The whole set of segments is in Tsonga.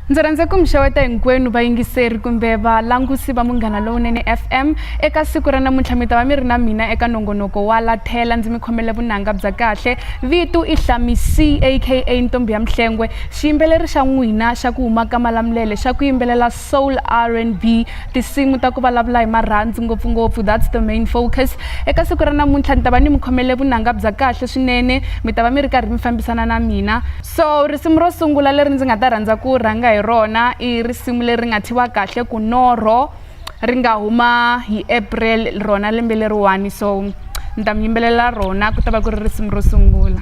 ndzi rhandza ku mi xeweta hinkwenu vayingiseri kumbe valangusi va munghana lowunene fm eka siku ra namuntlha mi ta va mi ri na mina eka nongonoko wa lathela ndzi mi khomele vunanga bya kahle vitu i hlami c aka ntombi ya mihlengwe xiyimbeleri xa n'wina xa ku huma ka malamulele xa ku yimbelela soul rnb tinsimu ta ku vulavula hi marhandzu ngopfungopfu that's the main focus eka siku ra namuntlha ni ta va ni mi khomele vunanga bya kahle swinene mi ta va mi ri karhi mi fambisana na mina so risimu ro sungula leri ndzi nga ta rhandza ku rhanga hi rona i risimu leri nga thiwa kahle ku norho ri nga huma hi april rona lembe leriwani so ni ta mi yimbelela rona ku ta va ku ri risimu ro sungula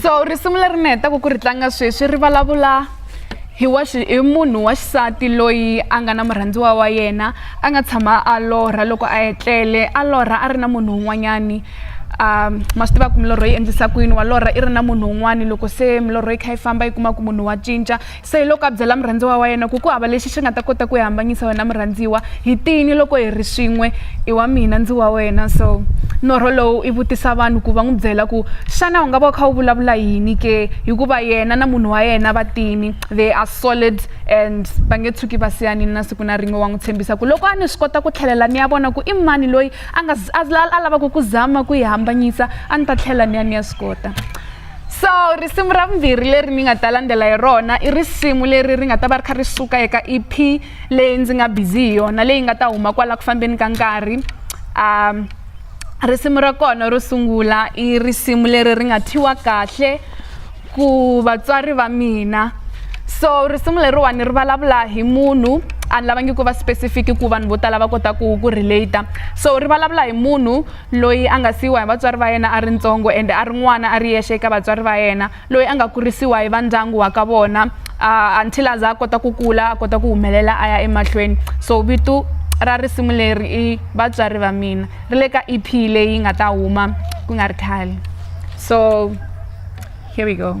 so risimu leri ni hetaka ku ri tlanga sweswi ri vulavula hi wa hi munhu wa xisati loyi a nga na murhandziwa wa yena a nga tshama a lorha loko a etlele a lorha a ri na munhu un'wanyani um ma swi tiva ku milorho yi endlisa ku yini wa lorha i ri na munhu un'wani loko se milorho yi kha yi famba yi kuma ku munhu wa cinca Se hi loko a byela murhandziwa wa yena ku ku hava lexi xi nga ta kota ku hi hambanyisa wena murhandziwa hi tini loko hi ri swin'we i wa mina ndzi wa wena so norho lowu i vutisa vanhu ku va n'wi byela ku xana u nga va u kha u vulavula yini ke hikuva yena na munhu wa yena va tini they are solid and va nge tshuki va siyanini na siku na rin'we wa n'wi tshembisa ku loko a ni swi kota ku tlhelela ni ya vona ku i mani loyi a nga a lavaku ku zama ku yi hambanyisa a ni ta tlhela ni ya ni ya swi kota so risimu ra vumbirhi leri ni nga ta landzela hi rona i risimu leri ri nga ta va ri kha ri suka eka ep leyi ndzi nga busy hi yona leyi nga ta huma kwala ku fambeni ka nkarhi um risimu ra kona ro sungula i risimu leri ri nga thyiwa kahle ku vatswari va mina so risimu leriwani ri vulavula hi munhu a ni lavangi ku va specific ku vanhu vo tala va kota ku ku relate so ri vulavula hi munhu loyi a nga siyiwa hi vatswari va yena a ri ntsongo ende a ri n'wana a ri yexe eka vatswari va yena loyi a nga kurisiwa hi vandyangu wa ka vona uh, until a za a kota ku kula a kota ku humelela a ya emahlweni so vito ra risimu leri i vatswari va mina ri le ka ep leyi nga ta huma ku nga ri khale so here we go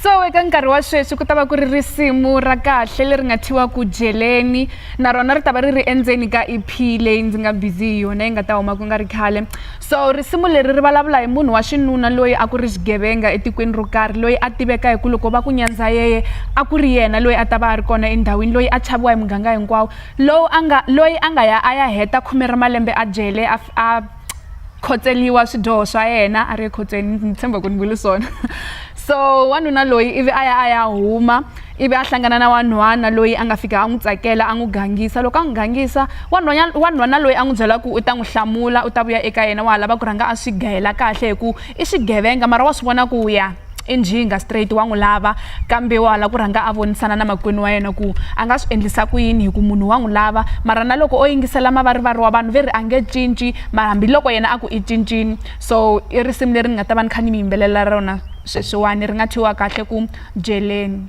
so eka nkarhi wa sweswi ku ta va ku ri risimu ra kahle leri nga thyiwa ku jeleni na rona ri ta va ri ri endzeni ka ep leyi ndzi nga busy hi yona yi nga ta huma ku nga ri khale so risimu leri ri vulavula hi munhu wa xinuna loyi a ku ri xigevenga etikweni ro karhi loyi a tiveka hi ku loko va ku nyandza yeye a ku ri yena loyi a ta va a ri kona endhawini loyi a chaviwa hi muganga hinkwawo lowu a nga loyi a nga ya a ya heta khume ra malembe a jele a khotseliwa swidyoho swa yena a ri ekhotsweni ni tshemba ku ni vuli swona so wanuna loyi ivi a ya a ya huma ivi a hlangana na wanhwana loyi a nga fika a n'wi tsakela a n'wi gangisa loko a n'wi gangisa wanhwana wanhwana loyi a n'wi byela ku u ta n'wi hlamula u ta vuya eka yena wa ha lava ku rhanga a swi gayela kahle hi ku i swigevenga mara wa swi vona ku ya i njhinga straight wa n'wi lava kambe wa la ku rhanga a vonisana na makwenu wa yena ku a nga swi endlisa ku yini hi ku munhu wa n'wi lava mara na loko o yingisela mavarivari wa vanhu ve ri a nge cinci mara hambiloko yena a ku i cincini so i risimu leri ni nga ta va ni kha ni mi yimbelela rona sweswiwani ri nga thyiwa kahle ku byeleni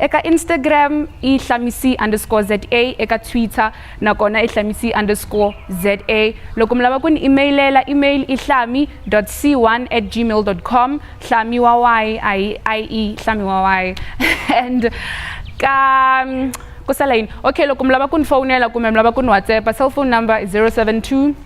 Eka Instagram i Hlamisi underscore ZA, eka Twitter na kona i Hlamisi underscore ZA. Loko mi lava ku ni imeyilela, email i hlami dot c1 at gmail dot com, hlami wa y a hi IE, hlami wa y and ka ku sala yini, okay loko mi lava ku ni fowunela kumbe mi lava ku ni WhatsApp-a cellphone number i 072.